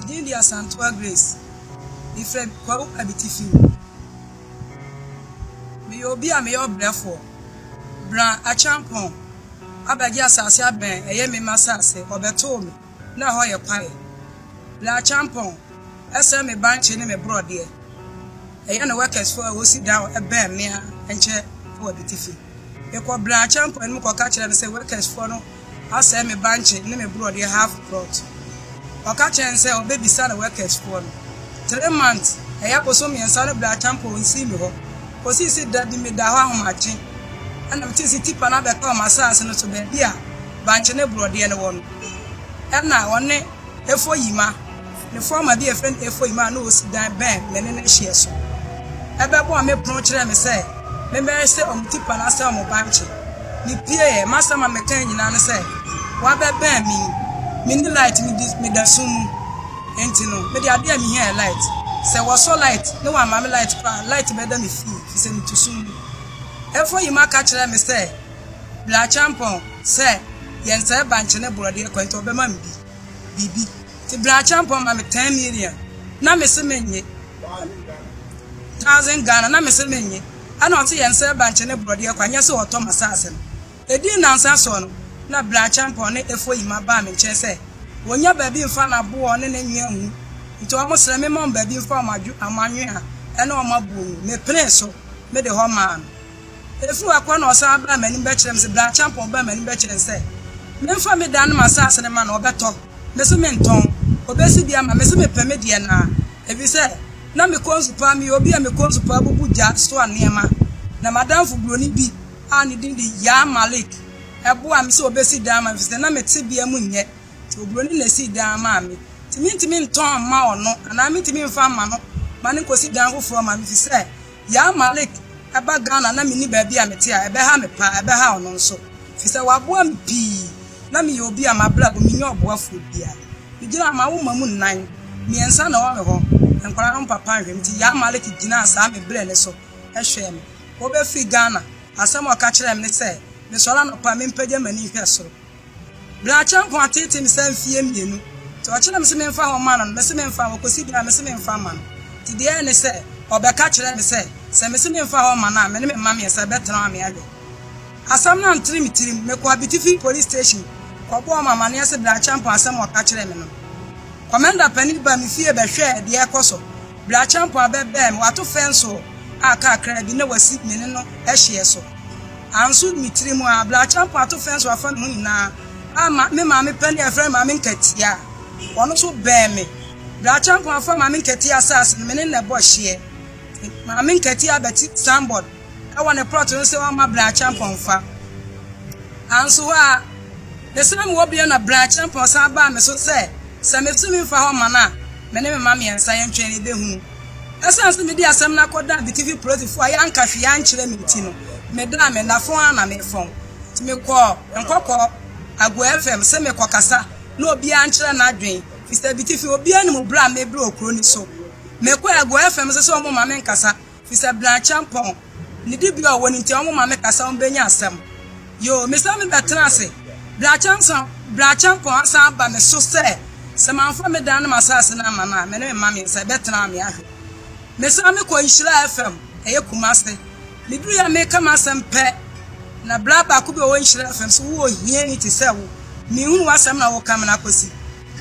Din de Asantewaa Grace. Mefrɛ Kwawu Abiti fi mu. Meyɛ obi a meyɛ ɔbrɛfoɔ. Bra Acheampong abɛgye asase abɛn ɛyɛ me mma asase, ɔbɛtoo me. na hɔ yɛ kwae. Bere a kyampɔn sɛ me bankye ne me borɔdeɛ, ɛyɛ ne workersfoɔ a wɔsi down bɛn me ara nkyɛ wɔ Bitifi. Mekɔ bere a kyampɔn anim kɔka kyerɛ no sɛ workersfoɔ no asɛe me bankye ne me borɔdeɛ half plot. Ɔka kyerɛ no sɛ ɔbɛbisa ne workersfoɔ no. Three months, ɛyɛ abosom mmiɛnsa ne bere a kyampɔn nsii me hɔ kɔsii sɛ da bi meda hɔ ahomakye na metee sɛ tipa no abɛka wɔn asase no so baabi a bankye ne borɔdeɛ no wɔ no. Nna ɔnye Efoyima ne fɔɔma bi a wɔfrɛ no Efoyima a nna osi dan bɛn me ne no hyeɛ so. Bɛbɔɔ me pon kyerɛɛ me sɛ memmɛhwehwɛ wɔn ti pa na asɛe wɔn bankye. Mipieeɛ. M'asɛm a mekae nyinaa ne sɛ, Wɔabɛbɛn me yi, minni light, midi, meda sum mu. Enti no, mede ade a mihia yɛ light. Sɛ wɔsɔ light na wɔamma me light koraa a, light bɛda me fie, efisɛ mitu sum mu. Efoyima ka kyerɛɛ me sɛ Bla Acheampong sɛ yɛnsɛe bankye ne borɔdeɛ kwan nti ɔbɛma me bi, biribi. Nti Bla Acheampong ma me ten million na me se mennye, thousand Ghana na me se mennye. Ɛna ɔse yɛnsɛe bankye ne borɔdeɛ kwan, nyɛ sɛ ɔtɔ m'asaase no. Ɛdii nnansa soɔ no, na Bla Acheampong ne Efoyima baa me nkyɛn sɛ wɔnnya baabi mfa n'aboɔ ne ne nwea ngu, nti wɔsrɛ me mma wɔn baabi mfa wɔn anwea ne wɔn aboɔ ngu. Mepenee so, mede hɔ maa no. Efii hɔ kɔ na ɔsan baa m'anim bɛkyerɛɛ me sɛ, Brakyɛmpɔn, ɔbaa m'anim bɛkyerɛɛ me sɛ, memfa me dan ne m'asaase no mma no, ɔbɛtɔ? Mese, Mentɔn. Obesi bi ama? Mese, Mepɛ me deɛ no ara, efisɛ na me kɔnsu paa, meyɛ obi a me kɔnsu paa bubu gya soa nneɛma, na m'adamfo Buroni bi a ne din de Yaa Malik boaa me sɛ obesi dan ama me efisɛ na me tebea mu nyɛ, nti Oburoni na esii dan maa me, nti mentumi ntɔn mma ɔno anaa mentumi mfa mma no ma no nkosi dan foforɔ mma me efisɛ Yaa Malik ba Ghana na menni baabi a mete a ɛbɛha me paa, ɛbɛhaw no nso, ɛfiri sɛ waboa me pii. Ná meyɛ obi a mabrabɔ, mennya ɔboafoɔ biara. Megyinaa m'awo mma mu nnan, mmiɛnsa na ɛwɔ me hɔ, nkwadaa no papa nhwɛ me nti. Yaa Malik gyinaa saa mebrɛɛ no so hwɛɛ me. Ɔrebɛfiri Ghana, asɛm a ɔka kyerɛɛ me ne sɛ, Mesɔre anɔpa a, mempagya m'ani nhwɛ soro. Brakyɛ mpo ateetee me saa mfie mmienu. Nti ɔkye na mese memfa hɔ mma no no, mese memfa hɔ, ɔkɔsi bere a mese memfa mma no. Nti deɛ ɛyɛ ne sɛ, ɔbɛka kyerɛɛ me sɛ, sɛ mese memfa hɔ mma no a, me ne me mma mmiɛnsa yɛbɛtena hɔ ama yɛawe. Asɛm no antere me tirim. Mekɔɔ Abitifi Police Station kɔbɔɔ wɔn amanneɛ se Brakyɛ mpo asɛm a ɔka kyerɛɛ me no. Kɔmanda panin baa me fie bɛhwɛɛ deɛ ɛrekɔ so. Brakyɛmpoa bɛbɛɛ me, wato fɛnsoo a kakraa bi na wasi me ne no hyeɛ so. Anso me tiri mu ara, Brakyɛmpoa ato fɛnsoo afa me ho nyinaa ama me maame panin a yɛfrɛ no Maame Nkatia a ɔno nso bɛn me. Brakyɛmpoa afa Maame Nkatia asaase no, me ne no na ɛbɔ hyeɛ. Maame Nkatia abɛte signboard. wɔ ne plot no sɛ ɔmma Bra Acheampong mfa. Nanso hɔ ara, mesan mewɔ bio na Bra Acheampong san baa me so sɛ sɛ metumi mfa hɔ mma no a, me ne me mma mmiɛnsa yɛntwɛn na yebehu. Esiane sɛ mede asɛm no akɔdan Bitifi polisifo a yɛanka hwee ankyerɛ me nti no, medaa me nna fɔn ara na mefɔn. Nti mekɔɔ Nkɔkɔ Agoa FM sɛ merekɔkasa na obiara nkyerɛ n'adwene, efisɛ Bitifi obiara nim bere a mebrɛ wɔ kurow no so. Mekɔɔ Agoa FM nso sɛ wɔmma menkasa. Fisɛ Blanchempɔn ne dibea a ɔwɔ no nti ɔmo ma me kasa ɔmo bɛnya asɛm yoo me san me bɛ tena ase Blanchempɔn Blanchempɔn asan aba me so sɛ sɛ manfa me dan ne m'asaase no amma no a me ne me mma mmiɛnsa ɛbɛ tena me ahwɛ me san me kɔ Nhyira FM ɛyɛ Kumase me duru yɛ me ka m'asɛm pɛ na bra baako bi ɔwɔ Nhyira FM so wo ohiani te sɛ wo me hunu w'asɛm na wo ka me na Kwasi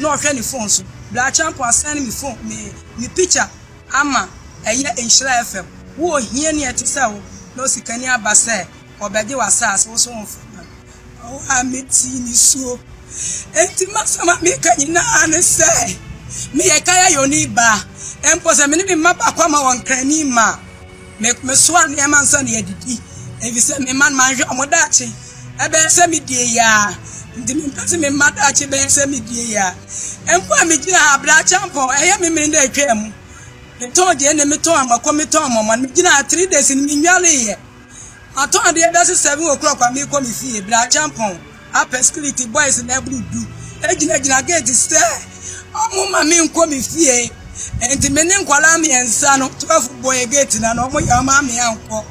na ɔhwɛ ne phone so Blanchempɔn asɛn me phone me me picture Ama ɛyɛ nhyira a ɛfɛ. Wo ohiani a ɛte sɛ wo na osikani aba sɛ ɔrebɛgye w'asase, wo so wo mfa mma no. Ɔwɔ a metee ne suo. Enti m'asɛm a meka nyinaa ne sɛ, Meyɛ Kayayoni ba, mpo sɛ me ne me mma baako ama wɔn kra ani mma a. Me, mesoa nneɛma nsa na yɛadidi, efisɛ me mma no manhwɛ wɔn daakye. Ɛbɛyɛ sɛ medie yɛ a, nti mempɛ sɛ me mma daakye bɛyɛ sɛ medie yɛ a. Mpo a megyina ha bere akyampɔn, ɛyɛ me mene na atwaa mu. Metɔn deɛ ne metɔn amako, metɔn mɔmɔn, megyina ha three days no mennwaleeɛ. Matɔn adeɛ bɛyɛ sɛ seven o'clock a merekɔ me fie, bere akyampɔn. Upper Script Boys no aburu du gyinagyina gate sɛ wɔmma me nkɔ me fie. Enti me ne nkwadaa mmiɛnsa no, 12 bɔɔ gate no ano, wɔyɛ wɔn ame ankɔ.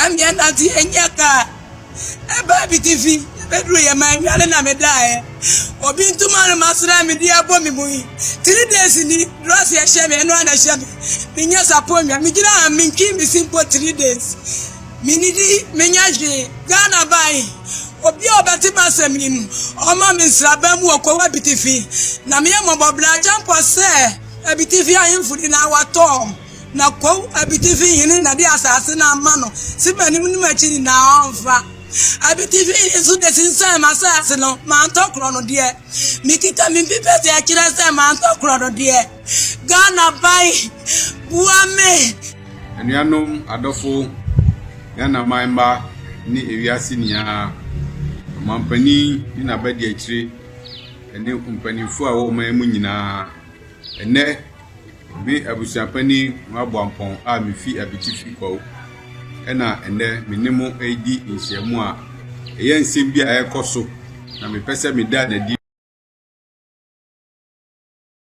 Ɛmeɛ nante yɛnyɛ kaa. Ɛbaa bitifi, ɛbɛduru yɛ ma awia no na medaeɛ. Obi ntoma no masra me de abɔ me mu yi. Three days ni, drɔs ɛhyɛ me, ɛno a na ɛhyɛ me. Menyɛ saponnwa, megyina ha mentwi me si mpo three days. Menidi menya hwee, Ghana bae. Obi a ɔbɛte m'asɛm yi no, ɔmma me nsraban mu wɔ Kowa Abitifi. Na meyɛ mmɔbɔ bere agya mpo sɛ Abitifi ahemfo nyinaa wɔatɔɔ m, na Kow Abitifi hene na de asase no ama no se m'anim ne m'akyi nyinaa ɔmfa. Abitifi hene nso de sensɛn m'asase no, mantɔ korɔnodeɛ. Mekita me mpi pɛ sɛ ɛkyerɛ sɛ mantɔ korɔnodeɛ. Ghana ban boa me. Anuanom adɔfo, Ghana man mma ne ewiase nyinaa ɔmanpanin ne n'abadiakyire ne mpanyimfo a wɔwɔ ɔman mu nyinaa. Ɛnɛ, me abusuapanin Nwaboampɔn a mifi Abitifi Kwawu ɛna ɛnɛ me ne mo redi nhyiamu a ɛyɛ nsɛm bi a ɛrekɔ so na mepɛ sɛ meda n'adi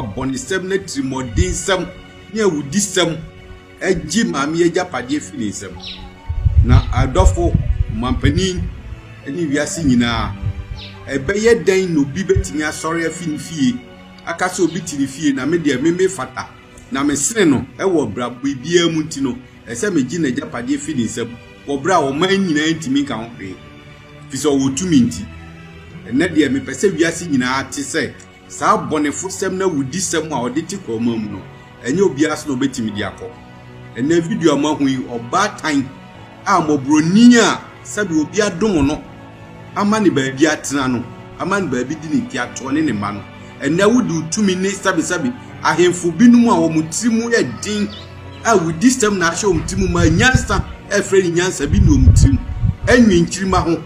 abɔnesɛm, n'atirimuɔdensɛm, ne awudisɛm agye maame agyapadeɛ firi ne nsam. Na adɔfo, ɔmampanin, ne wiase nyinaa, ɛbɛyɛ dɛn na obi bɛtumi asɔre afi ne fie aka sɛ obi te ne fie na me deɛ me mefata na mesene no wɔ bra biribiara mu nti no ɛsɛ megye n'agyapadeɛ firi ne nsam wɔ berɛ a ɔman nyinaa ntumi nka ho hwee fi sɛ ɔwɔ tumi nti. Ɛnnɛ deɛ mepɛ sɛ wiase nyinaa te sɛ Saa abɔnefosɛm ne awudisɛm a ɔde te korɔma mu no, ɛnyɛ obiara so na obetumi de akɔ. Ɛnnɛ video a moahu yi, ɔbaatan a mmɔborɔni a sɛdeɛ obi adom no ama ne baabi atena no, ama ne baabi di ne nteatoɔ ne ne mma no, ɛnnɛ wode wo tumi ne sɛbesɛbe ahemfo binom a wɔn tiri mu yɛ den a wodi sɛm na ahyɛ wɔn tirim ma nyansa a ɛfrɛ ne nyansa bi nni wɔn tirim, anwi nkyirimma ho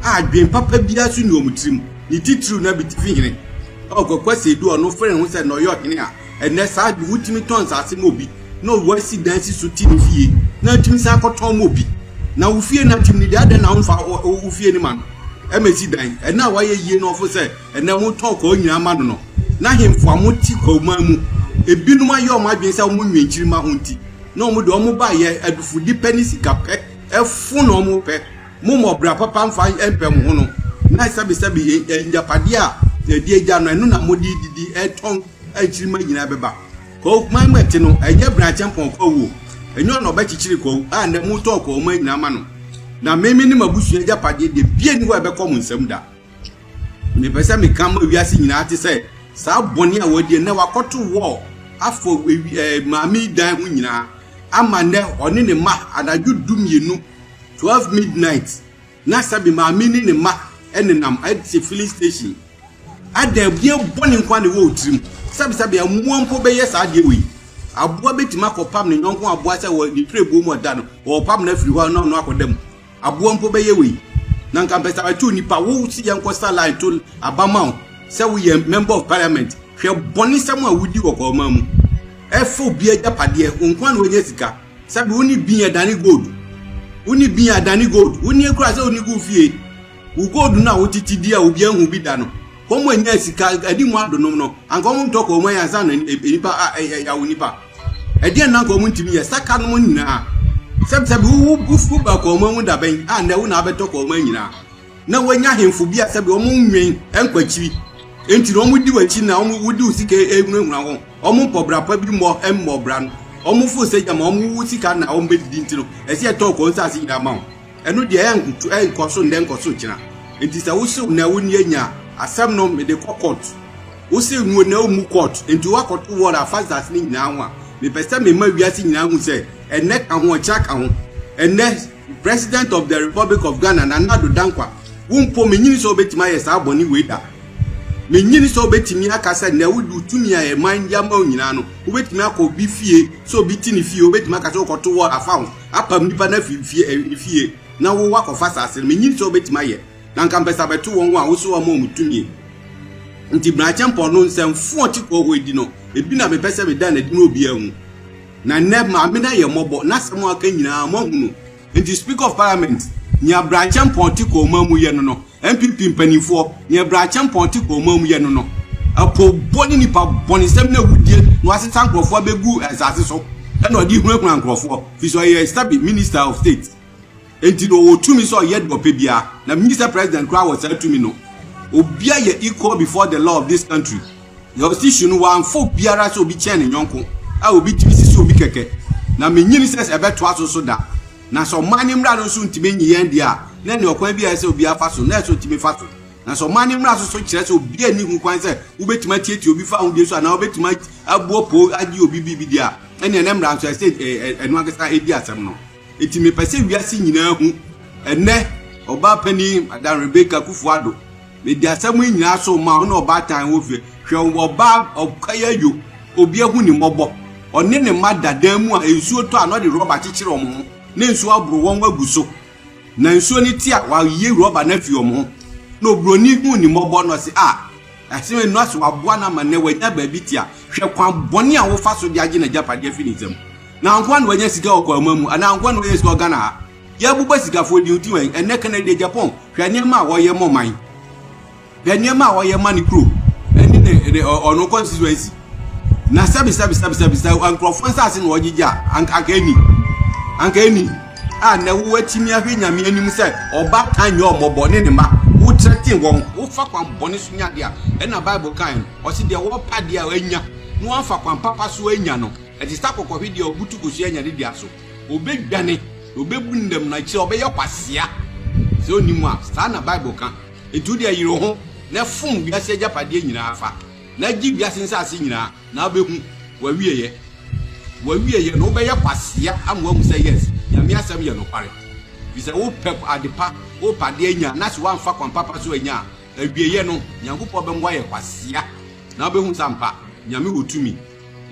a adwen papa biara nso nni wɔn tirim. Ne titiriw na bitifi hene a ɔkwakwa Sedu a ɔno frɛ ne ho sɛ na ɔyɛ ɔhene a ɛnnɛ saa de wotumi tɔn nsase ma obi na ɔwɔ asi dan si so te ne fie na atumi san akɔtɔn ma obi. Na wo fie no atim no deɛ adɛn na womfa wo fie no ma no ɛma ɛsi dan? Ɛno a wayɛ yie no ɔfo sɛ Ɛnnɛ wɔtɔn kwawu nyinaa ma no no, n'ahemfo a wɔte kwawuman mu, ebinom ayɛ wɔn adwene sɛ wɔn nnwenkyirima ho nti, na wɔn de wɔn ba yɛ adufudepɛ ne sikapɛ fo na wɔpɛ. Mommɔ ɔbra papa mfa mpɛ mo ho no, na sɛbesɛbe agyapade a yɛde agya no, ɛno na mode didi tɔn nkyirimma nyinaa bɛba. Kwawuman mu ɛte no, ɛnyɛ Berakyɛmpɔn kwawu o, ɛnyɛ ɔno na ɔbɛkyekyere kwawu a ɛnnɛ motɔn kwawuman nyinaa ma no, na me, me ne m'abusua agyapade deɛ, biribiara nni hɔ a ɛbɛkɔ mo nsam da. Mepɛ sɛ meka ma wiase nyinaa te sɛ saa bɔne a wɔadi na wakɔto wɔ afɔ eh, maame dan ho nyinaa ama nnɛ ɔne ne mma anadwo du mmienu 12 midnight na sɛbi maame ne ne mma nenam ɛte filling station adan bia bɔne nkwa ne wɔ tirim sɛbisɛbi mmoa mpo bɛyɛ saa adeɛ wei aboa bɛtumi akɔpam ne nyɔnko aboa sɛ wɔ ne tire buo mu ɔda no wɔpam no afiri hɔ na ɔno akɔda mu Aboa mpo bɛyɛ wei na nka mpɛ sɛ ɛto nnipa wo si yɛn kɔ sa line to abama wo sɛ woyɛ member of parliament hwɛ bɔne sɛm a wodi wɔ kɔɔma mu ɛfa obi agyapadeɛ wo nko a na wɔnyɛ sika sɛbi wo ne bin adane gold wo ne bin adane gold wo ne kura sɛ wo ne gu fie wo gold no a wotete di a obi ahu bi da no Wɔn a nya sika adi mu adonom no, anka wɔn ntɔ kɔn mu ayɛ ansa na nipa awo nipa. Ɛdeɛn na anka wɔn ntumi yɛ saka nom nyinaa. Sɛbisɛbi wo wo ba kɔn mu ahu dabɛn a na ɛwo na abɛtɔ kɔn mu nyinaa. Na wɔnya ahemfo bi a sɛbi wɔn nwɛn nkwakyiri. Enti na wɔn di wɔakyi na wɔn wodi wo sika ehunahuna ho. Wɔn mpɔ bra pa bi mmɔ mmɔ bra no. Wɔn fo sɛ gyama wɔn wo sika na wɔn bɛdidi nti no ɛsɛ ɛtɔ kɔn nsaase nyinaa ma wɔn. Ɛno deɛ ɛyɛ nkutu ɛyɛ nkɔso ndɛ nkɔso gyina nti sɛ wosew na wo nie nya asɛm no mede kɔ court wosew nuo na wo mu court nti wakɔto wall afa zase ne nyinaa ho a mepɛ sɛ mema wiase nyinaa hu sɛ ɛnɛ ka ho ɔkyena ka ho ɛnɛ president of the republic of Ghana na Nado Dankwa wo mpo menyini sɛ wobɛtumi ayɛ saa bɔne wei da menyini sɛ wobɛtumi aka sɛ na wode wotumi a ɛman de ama wo nyinaa no wobɛtumi akɔ obi fie sɛ obi te ne fie wobɛtumi aka sɛ wokɔto wall afa ho apam nnipa no afi fie eh, fie na wo wakɔfa asase no menyim sɛ wobɛtumi ayɛ na nka mpɛ sɛ abɛto wɔn a wosɛ wɔn wɔn tumie nti mmarakyɛmpɔn no nsɛmfo ɔte kɔɔ hɔ edi no ebi na mepɛ sɛ meda n'adi na obiara hu na nnɛ maame no ayɛ mmɔbɔ n'asɛm aka nyinaa moahunu nti speaker of parliament nya mmarakyɛmpɔn te kɔɔ ma mu yɛ no no NPP mpanimfoɔ, nea Brakyɛmpɔn te kɔ ɔman mu yɛ no no, apoobɔ ne nipa bɔnesɛm ne awudie na wɔasesa nkurɔfoɔ abɛgu nsase so na ɔde hunahuna nkurɔfoɔ firi sɛ ɔyɛ stabi minister of state enti na ɔwɔ tumi sɛ ɔyɛ deɛ ɔpɛ biara na Mr President koraa wɔ saa tumi no obia yɛ equal before the law of this country jurisdiction no wɔamfa obiara sɛ obi kyɛn ne nyɔnko a obi tumi sisi obi kɛkɛ na menyini sɛ sɛ ɛbɛtoa so so da Na sɛ ɔman no mmara no nso ntumi nye yɛn deɛ a, na ɛne ɔkwan bi a ɛsɛ obiara fa so, na ɛsɛ otumi fa so. Na sɛ ɔman no mmara so so kyerɛ sɛ obiara nni ho kwan sɛ wobɛtumi atiatia obi fa ahodie so anaa wobɛtumi abu ɔpoo agye obi biribi deɛ a, ɛneɛ na mmara nso ɛsɛ ɛno ankasa ɛdi asɛm no. Enti mepɛ sɛ wiase nyinaa hu ɛnɛ ɔbaa panin Madam Rebecca Kufuor-Addo Mede asɛm yi nyinaa so rema wo ne ɔbaatan wo fie. Hwɛ ɔbaa ɔkɔyɛ adwo, obi ahu ne mmɔbɔ. Ɔne ne mma da dan mu a nsuo tɔ a na ɔde rɔba kyekyere wɔn ho na nsuo aboro wɔn agu so. Na nsuo no te a wayi rɔba no afi wɔn ho. Na oburoni hu ne mmɔbɔ na ɔse, ah, ɛsene no ase waboa no ama nnɛ wanya baabi te a hwɛ kwan bɔne a wofa so de agye n'agyapadeɛ afi ne nsam. Na ankoa na wanya sika wɔ Kwama mu anaa ankoa na wanya sika wɔ Ghana ha. Yɛbobɔ sikafoɔ deɛ ɔdi wɛn ɛnɛ kane deɛ Japan hwɛ nneɛma a wɔyɛ mɔ man hwɛ nneɛma a wɔyɛ ma ne kuro ɛne ne ne ɔno constituency na sɛbi sɛbi sɛbi sɛbi sɛ nkurɔfoɔ nsaase na wɔgyegye a anka anka ɛni anka ɛni a na wɔatumi ahwɛ nyame anim sɛ ɔba tan nyɛ ɔmɔbɔ ne ne ma wotrɛ ten wɔn wofa kwan bɔne so nya deɛ a ɛna bible kan no ɔse deɛ wɔpa deɛ a anya na wɔamfa kwan papa so anya no ɛte sɛ akɔkɔhwe deɛ ɔbutu kosua anya ne dua so Obedwane, na obebu ne dam, na akyiri ɔbɛyɛ kwasea. Sɛ onni mu a, saa na Bible ka. Enti wo deɛ yere wo ho, na fom wiase agyapadeɛ nyinaa fa, na gye wiase nsase nyinaa, na wobɛhu w'awieeɛ. W'awieeɛ no, wobɛyɛ kwasea ama woahu sɛ, yes, Nyame asɛm yɛ nokware. Ɛfiri sɛ wopɛ adepa, wopɛ adeɛ anya, na sɛ woamfa kwan papa so anya a, awieeɛ no, Nyankopɔn bɛma woayɛ kwasea, na wobɛhu sɛ ampa, Nyame wɔ tumi.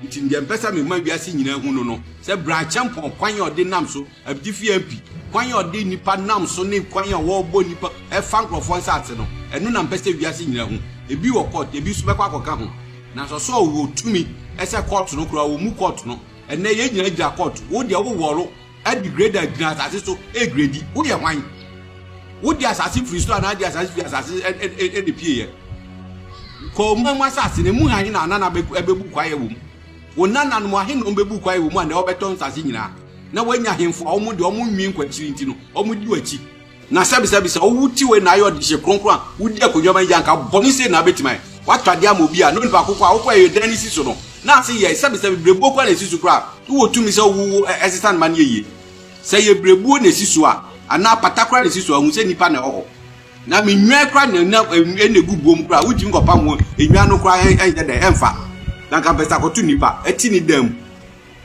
Nti ndeɛ mpɛ sɛ mema wiase nyinaa hu no no sɛ Bra-Acheampong kwan a ɔde nam so, Abdifi MP, kwan a ɔde nnipa nam so ne kwan a wɔbɔ nnipa ɛfa nkorɔfoɔ nsaase no, ɛno na mpɛ sɛ wiase nyinaa hu. Ebi wɔ court, ebi nso bɛkɔ akɔka ho. Nanso ɔsɛ ɔwɔ tumi ɛsɛ court no koraa, ɔmmu court no. Ɛnnɛ yɛn nyinaa gyina court, wo deɛ wo wɔro, Ɛde grader gyina asase so gredi. Wo deɛ hwan? Wode asase firi so anaa de asase firi asase ɛna pieeɛ? Kɔ ɔman mu asase na emu ahe na anana bɛbu kwaeɛ wɔ mu? Wo nananom ahe na wɔbɛbu kwaeɛ wɔ mu a na wɔbɛtɔ nsase nyinaa? Na wɔanya ahemfo a wɔn deɛ wɔn nwi nkwakyiri nti no wɔdi w'akyi. Na sɛbisɛbi sɛ owu ti wei na ayɛ ɔdehye kronkron a wodi akonnwa ma yi gye anka bɔne sei na abetumi ayɛ. Woato adeɛ ama obi a na onipa ko koraa a wokɔɛ yɛ dɛn no si so no na ase yɛe sɛbisɛbi berebuo koraa na esi so koraa a wowɔ tumi sɛ wowo wo ɛsesa no ma no yɛ yie. Sɛ ɛyɛ berebuo na esi so a anaa apata koraa na esi so a hu sɛ nnipa na ɛwɔ hɔ. Na me nnwan koraa na na ɛna egu buo mu koraa wotumi kɔpam wɔn nnwan no koraa ɛnyɛ dɛn ɛmfa na anka mpɛ sɛ akɔto nnipa ɛte ne dan mu.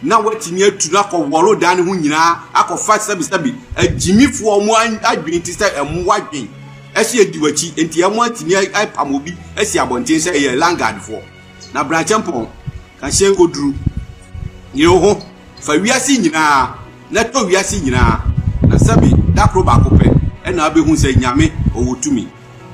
na watumi atu no akɔ wɔro dan no ho nyinaa akɔfa sɛbisɛbi agyimifoɔ ɔmo adwene ti sɛ mmoa dwen ɛhyɛ edi w'akyi nti ɛmo atumi apam obi asi abɔnten sɛ ɛyɛ langadfoɔ na brankyɛ mpɔn kahyɛn koduru yere ho fa wiase nyinaa na tɔ wiase nyinaa na sɛbi dakoro baako pɛ ɛna abɛhu sɛ nyame ɔwɔ tumi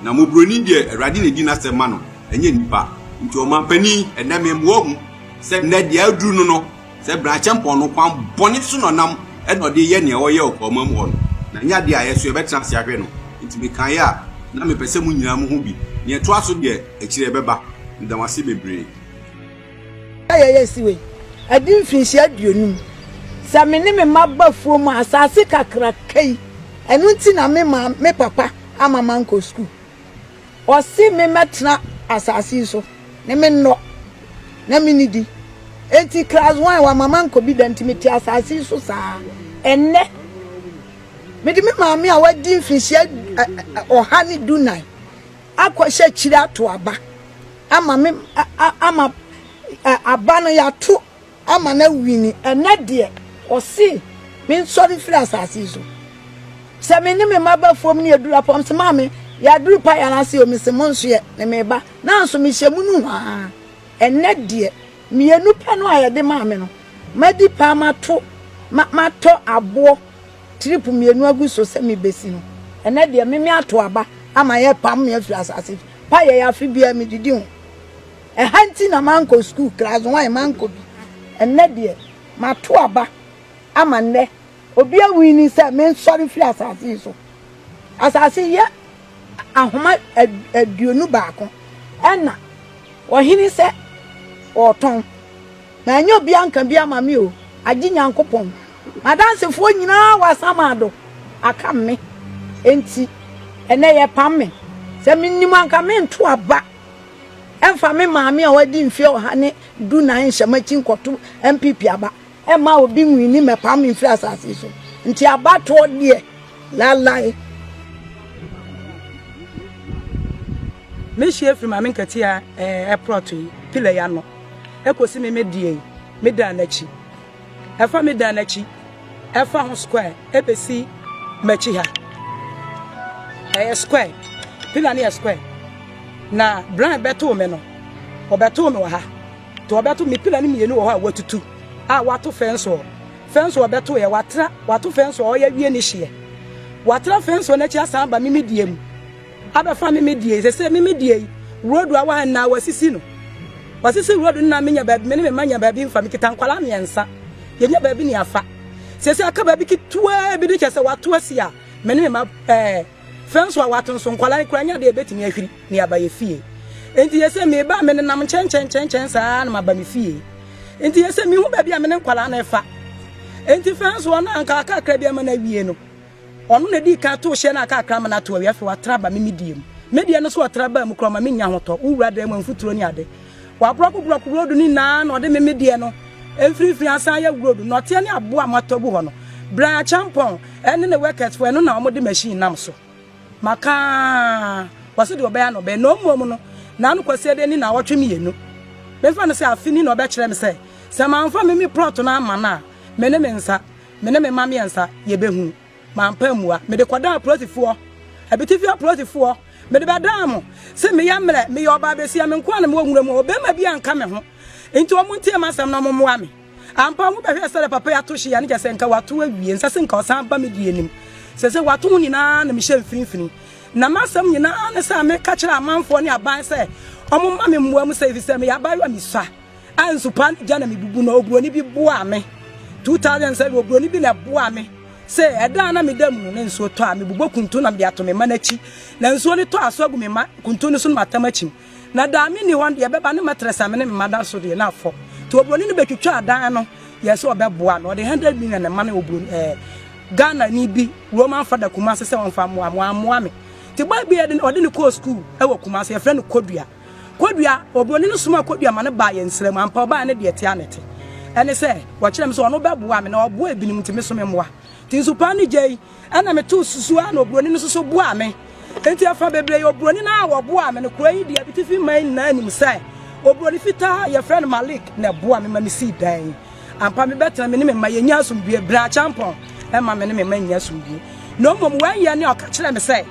Na mmɔborɔni deɛ, Awurade na ɛdi n'asɛm ma no, ɛnyɛ nnipa. Nti ɔmampanin, ɛnnɛ memmoa hu sɛ nnɛ deɛ aduru no no, sɛ Bena-Acheampong no kwan bɔne so na ɔnam na ɔde reyɛ nea ɔreyɛ wɔ Kaomam hɔ no, na ɛnyɛ adeɛ a yɛn nso yɛbɛtena ase ahwɛ no. Nti mekaeɛ a, na mepɛ sɛ mo nyinaa mohu bi. Nea ɛtoa so deɛ, akyire ɛbɛba. Meda mo ase bebree. Sɛ yɛyɛ asi wei adi mfinhyia aduonum, sɛ me ne me mma ba afuom a, asaase kakraka yi, ɛno nti na me maa me papa ama mankɔ sukuu. Ɔse me mɛtena asase yi so ne me nnɔ na menni di. Enti class one wama mankɔ bi da nti mete asase yi so saa. Ɛnnɛ, mede me maame a wadi mfinhyia ɔha ne dunan akɔhyɛ akyiri ato aba ama me ama aba no yɛato Ama no awini. Ɛnnɛ deɛ, ɔse, mensɔre mfiri asase yi so. Sɛ me ne me mma ba fam ne yɛduru apɔ, mese, Maame, yɛaduru paeɛ anaasɛ o? Mese, Monsoɛ, ne meba. Nanso mehyɛ mu no hwaa. Ɛnnɛ deɛ, mmienu pɛ no a yɛde maa me no, madi paa mato, ma, matɔ aboɔ trip mmienu agu so sɛ mebɛsi no. Ɛnnɛ deɛ, me, meato aba ama yɛapam me afiri asase paeɛ yi, afe biara medidi ho. Ɛha nti na mankɔ sukuu class one mankɔ bi. Ɛnnɛ deɛ mato aba ama nnɛ obi awini sɛ mensɔre firi asase yi so. Asase yɛ ahoma aduonu baako ɛna ɔhene sɛ ɔretɔn na ɛnyɛ obi anka bi ama me o agye Nyankopɔn. Madansefoɔ nyinaa wɔ asamado aka me enti ɛnɛ yɛpam me sɛ menim anka mento aba Ɛmfa me maame a wadi mfe ɔha ne dunan nhyɛ m'akyi nkɔto NPP aba. Ɛmma obi nwini mmɛpam me mfiri asase yi so. Nti abatoɔ deɛ, lalae. Mehyia firi Maame Nkatia ɛɛ plot yi, pillar yi ano, ɛkɔsi me me deɛ yi, me daa n'akyi. Ɛfa me dan no akyi, ɛfa ho square ɛbɛsi m'akyi ha. Ɛyɛ square, pillar no yɛ square. Na Brian bɛtoo me no, ɔbɛtoo me wɔ ha. To ɔbɛto me pillar no mmienu wɔ hɔ a watutu a wato fence wall. Fence wall bɛto yɛ watra, wato fence wall ɔyɛ wie ne hyeɛ. Watra fence wall n'akyi asan aba me me die mu. Abɛfa me me deɛ yi sese me me deɛ yi road a waha nyinaa wasisi no wasisi road no na menya baabi me ne me ma nya baabi nfa me kita nkwalaa mmiɛnsa yɛnya baabi ne afa sese aka baabi ketewa bi de kyɛ sɛ wato asi a me ne me ma ɛɛ fɛnso a wato nso nkwalaa no kura nya deɛ ebetumi ahwiri ne aba yɛ fie nti yɛsɛ me ba me nenam nkyɛn nkyɛn nkyɛn nkyɛn saa na ma ba me fie nti yɛsɛ me hu baabi a me ne nkwalaa no ɛfa nti fɛnso no anka aka akra bi ama na wie no Ɔno na edii kan tow hyɛn a aka akra ma no atow awie. Afei watra aba me midie mu. Me deɛ no nso ɔtra baa mu koraa ɔma menya ahotɔ. Wo wura dan mu a mfuturo ne ade. Waborɔko borɔko brodu no nyinaa na ɔde me me deɛ no mfirifiri asan ayɛ brodu. Nnɔteɛ ne aboɔ a moatɔ agu hɔ no, bran akyampɔn ne ne worketfoɔ ɛno na wɔde machine nam so. Maka ara. Wɔse deɛ ɔbɛyɛ na ɔbɛyɛ. Na mmom no, n'ano kwaseɛ deɛ nni nnawɔtwe mmienu. Memfa no sɛ afe ni na ɔbɛkyerɛ me sɛ, sɛ mamfa me me plot no amma no a, me ne me nsa. Me ne me mma mmiɛnsa, yɛbɛhunu. Mampa ammua. Mede kɔdaa apolisifoɔ. Abitifi apolisifoɔ. Mede bɛdaa mo. Se meyɛ mmerɛ. Meyɛ ɔbaa besia. Me nkoaa na mewɔ nwura mu hɔ. Ɔbarima biaa nka me ho. Nti wɔn ntie m'asɛm na wɔn mmoa me. Ampa, wo bɛhwɛɛ sɛdeɛ papa yi ato hye yi a, ne kyerɛ sɛ nka wato awie. Nsɛ se nka ɔsan ba me dua anim. Sese wato ho nyinaa na mehyɛ mfinimfini. Na m'asɛm nyinaa ne sɛ meka kyerɛ amanfoɔ ne aban sɛ wɔn mma me mmoa mu sɛ efisɛ meyɛ abaayewa misua. a nsupa no gya na mebubu no oburoni bi boaa me 2007 oburoni bi na ɛboaa me sɛ ɛda a na meda mu no na nsuo tɔ a mebobɔ kuntu na mede ato me mma no akyi na nsuo no tɔ aso agu me mma kuntu no so no matam akyim na daa menni hɔ no deɛ ɛbɛba ne matrɛs a me ne me mma da so deɛ na afɔ nti oburoni no bɛtwitwa adan no yɛ sɛ ɔbɛboa me ɔde 100 million na ma ne oburoni ɛɛ eh, Ghana ni bi Roman fada Kumasi sɛ wɔmfa mmoa mmoa mmoa me nti bɔɔ bi ɔde ne kɔɔ skuul ɛwɔ Kumasi yɛfrɛ no Kodua Kodua, oburoni no somaa Kodua ma no baa yɛn nsram. Ampa, ɔbaeɛ ne deɛ ɛte a na ɛte. Ɛne sɛ, wɔkyerɛɛ me sɛ ɔno bɛboa me, na ɔboa ebinom nti, me nso memmoa. Nti nsu pa no gyei, ɛnna metoo susu a na oburoni no nso so boaa me. Nti ɛfa bebree oburoni no a ɔboaa me no, kuro yi deɛ abitifi man nyinaa nim sɛ oburoni fitaa a yɛfrɛ no Malik na ɛboa me ma mesii dan yi. Ampa, mebɛtena me ne me mma yɛnya asomdwoe. Bere Akyampɔn mma me ne me mma nnya asomdwoe. Na mmom, wɛnyɛ ne a ɔka kyerɛɛ me sɛ,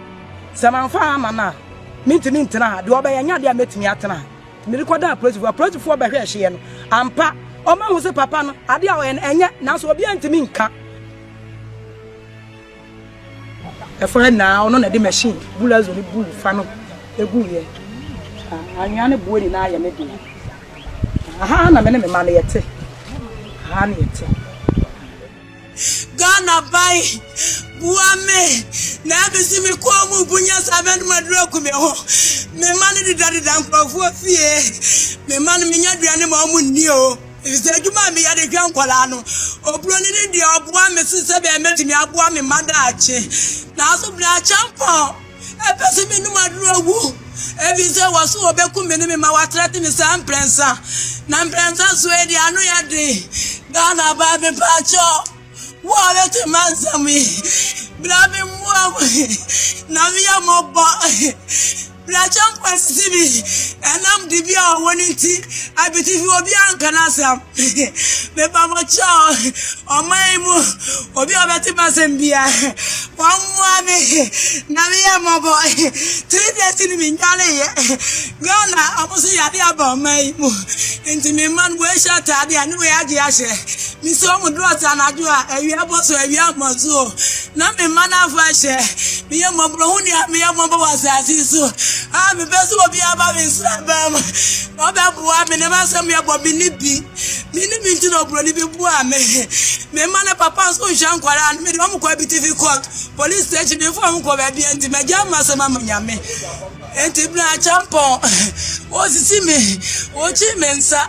Sɛ mamfa amma no a, mintumi ntena ha. Deɛ ɔbɛyɛ nyɛ adeɛ a mɛtumi atena ha. Nti mede kɔdaa apolisifoɔ. Apolisifoɔ bɛhwɛɛ hyeɛ no. Ampa, wɔahu sɛ papa no, adeɛ a ɔyɛ no, ɛnyɛ. Nanso obiara ntumi nka. Ɛfã nyinaa, ɔno na ɛde machine bulazo no buu fa no guiɛ. Anwea no boɔ nyinaa yɛ me dea. Aha na me ne me mma no yɛte. Aha na yɛte. Ghana ban boa me na ɛmi si me kɔn mu bunya saa bɛ no ma duro gu me ho. Me ma no dedadeda nkurɔfoɔ fie. Me ma no menya aduane ma ɔmo nni o. Efisɛ adwuma a meyɛ de hwɛ nkwadaa no, oburoni no deɛ ɔboa me so sɛdeɛ mɛtumi aboa me mma daakye. Nanso bere akyɛ mpɔn. Ɛpɛ sɛ menom aduru awu, ɛfiri sɛ wɔ so wɔbɛku me ne me ma wɔatrɛte me saa mprɛnsa. Na mprɛnsa so yi deɛ ano yɛ den. Ghana baa me paakyɛ wo a bɛte mansɛm yi, bra me mmoa mu na meyɛ mmɔbɔ. Bra kyɛmpa sisi bi, ɛnam dibea a ɔwɔ no nti, abitifi obi anka n'asɛm. Mepa mo kyɛw, ɔman yi mu obi a ɔbɛte m'asɛm bia, wɔn mmoa me na me yɛ mmɔbɔ. Three days ni me nyale yɛ. Ghana ɔmo so yade aba ɔman yi mu. Nti me mma no wɔahyɛ ataade a ne wɔyɛ agye ahyɛ. Me si ɔmo drɔs anadwo a awia bɔ so awia mmɔ so o. Na me mma no afa hyɛ. Me yɛ mmɔbɔ ho nea me yɛ mmɔbɔ wɔ asase so. A mepɛ sɛ obi aba me nsra bɛm. Ɔbɛboa me, ne ba sɛ me ɛbɔ me ne bi. Me ne bi nti na oburoni bi boa me. Me ma ne papa nso nhwɛ nkwadaa no, me de wɔn kɔ abitifi court, police station, me nfa wɔn kɔ baabi nti me gya ma sɛ ma ma nyame. Nti bina achampɔn, osisi me, okyi me nsa.